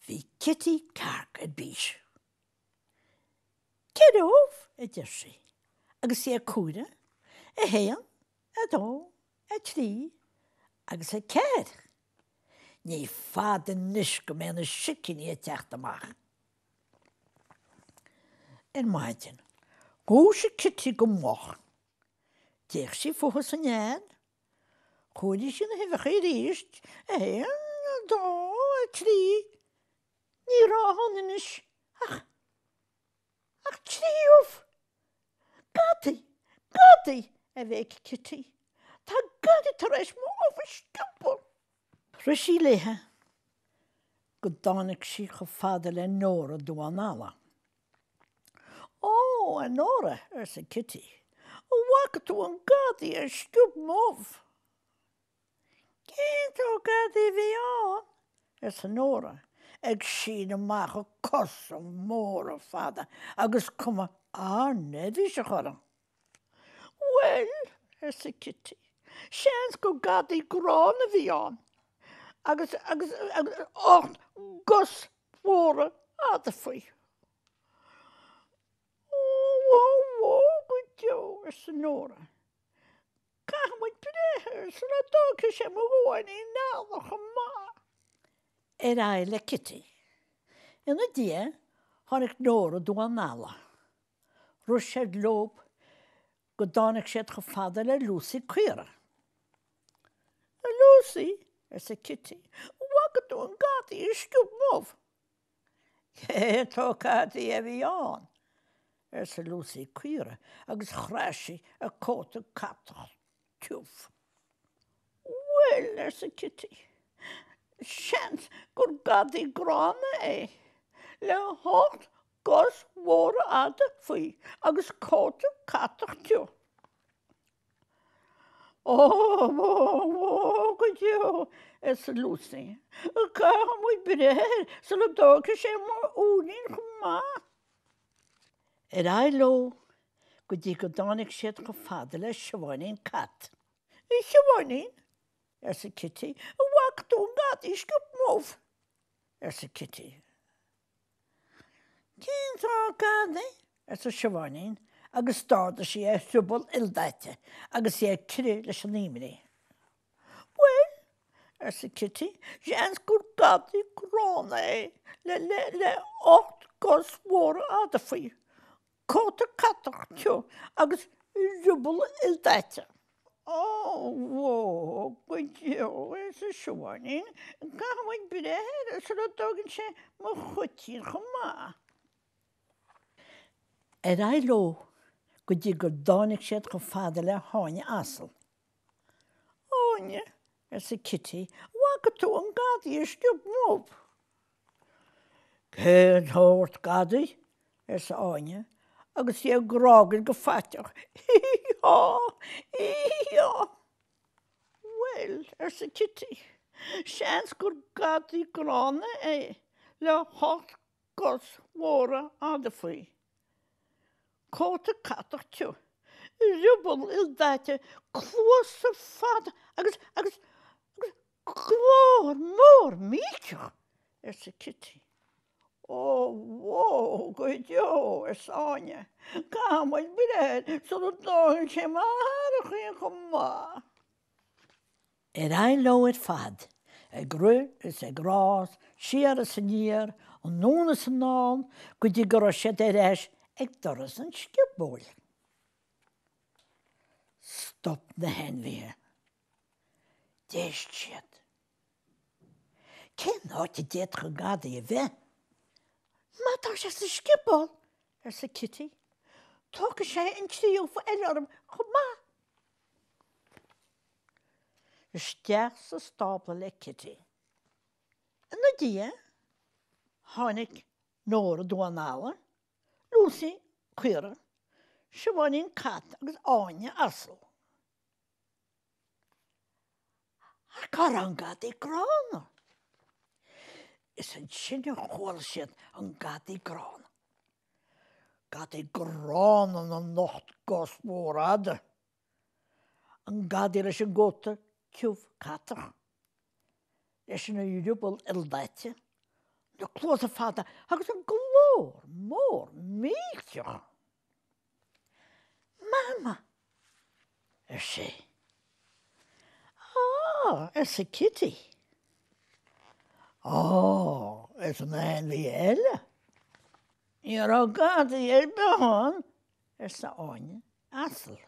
Bhí Cití Cearc ar bís. Ceithre ubh, a deir sí, agus í ag comhaireamh, a haon, a dó, a trí, agus a ceathair. Ní fada anois go mbeidh na sicíní ag teacht amach. Ar maidin, dhúisigh Cití go moch. D'fhéach sí fúithi sa nead. Chomhairigh sí na huibheacha arís, a haon, a dó, a trí. Ní raibh ann anois ach. Ach trí ubh! Gadaí! Gadaí! a bhéic Cití. Tá gadaí tar éis mo ubh a sciobadh! Rith sí léithe go dtáinig sí chomh fada le Nóra Damhán Alla. Ó, a Nóra, arsa Cití, an bhfaca tú an gadaí a sciob m'ubh? Cén sórt gadaí a bhí ann? arsa Nóra, ag síneadh amach a cosa móra fada agus cuma an-neirbhíseach uirthi. Bhuel, arsa Cití, seans gur gadaí gránna a bhí ann, agus, agus, agus ocht gcos mhóra fhada faoi. Ó, bhó, bhó go deo, arsa Nóra. Caithfidh muid breith air sula dtóigfidh sé mo dhamháinín alla chomh maith. Ar aghaidh le Cití. Ina diaidh tháinig Nóra Damhán Alla. Rith siad leob go dtáinig siad chomh fada le Lúsaí Caora. A Lúsaí, arsa Cití, bhfaca tú an gadaí a sciob m'ubh? Cén sórt gadaí a bhí ann? arsa Lúsaí Caora agus chraith sí a cóta catach tiubh. Bhuel, arsa Cití, seans gur gadaí gránna é, le hocht gcos mhóra fhada faoi agus cóta catach tiubh. Ó bhó bhó go deo, arsa Lúsaí. Caithfidh muid breith air sula dtóigfidh sé mo uainín chomh maith. Ar aghaidh leo go dtí go dtáinig siad chomh fada le Siobháinín Cat. A Shiobháinín, arsa Cití, an bhfaca tú an gadaí a sciob m'ubh? arsa Cití. Cén sórt gadaí? arsa Siobháinín agus d'ardaigh sí a riuball ildaite agus í ag crith leis an imní. Bhuel, arsa Cití, seans gur gadaí gránna é le, le, le ocht gcos mhóra fhada faoi. Cóta catach tiubh agus riuball ildaite. Ó, bhó, go deo, arsa Siobháinín, caithfimid breith air sula dtógann sé mo chaitín chomh maith. Ar aghaidh leo go dtí go dtáinig siad chomh fada le hÁine asal. Áine, arsa Kitty, an bhfaca tú an gadaí a sciob m'ubh? Cén sórt gadaí? arsa Áine agus í ag grágaíl go faiteach. Hí-hí-há! Hí-hí-há! Bhuel, arsa Cití, seans gur gadaí gránna é le hocht gcos mhóra fhada faoi, cóta catach tiubh, riuball ildaite, cluasa fada agus, agus, agus Glór mór millteach! arsa Cití. Ó bhó go deo! arsa Áine. Caithfidh muid breith air sula dtógann sé mo shearraichín chomh maith. Ar aghaidh leo ar fad, ag rith is ag rás, siar is aniar, anonn is anall, go dtí go raibh siad ar ais ag doras an sciobóil. Stop na hainmhithe. D'éist siad. Cén áit a d'fhéadfadh an gadaí a bheith? Má tá sé sa scioból, arsa Kitty, tógfaidh sé an trí ubh eile orm chomh maith. Isteach sa stábla le Kitty. Ina diaidh tháinig Nóra damhán alla, Lúsaí, caora, Siobháinín, cat, agus Áine, asal. Ach cá raibh an gadaí gránna? Is ansin a chuala siad an gadaí gránna. Gadaí gránna na n-ocht gcos mhór fhada. An gadaí leis an gcóta tiubh catach. Leis an rioball ildaite. Na cluasa fada agus an glór mór millteach. Mama! ar sé. Á! arsa Kitty. Á! arsa na hainmhithe eile. Ní raibh gadaí ar bith ann, arsa Áine, asal.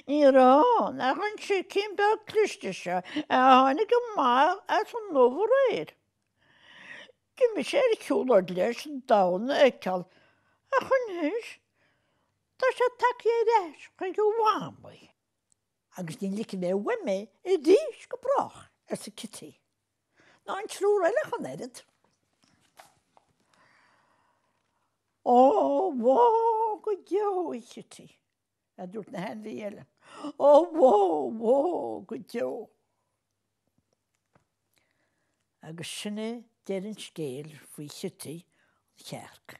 Ní raibh, nach an sicín beag cliste seo a tháinig amach as an ubh aréir. D'imigh sé ar shiúlóid leis an domhan a fheiceáil, ach anois tá sé tagtha ar ais chuig a mhamaí. Agus ní ligfidh mé uaim é arís go brách, arsa Cití. Ná an triúr eile ach an oiread. Ó, bhó go deo, a Chití, a dúirt na hainmhithe eile. Ó bhó! Bhó! go deo! Agus sin é deireadh an scéil faoi Chití an chearc.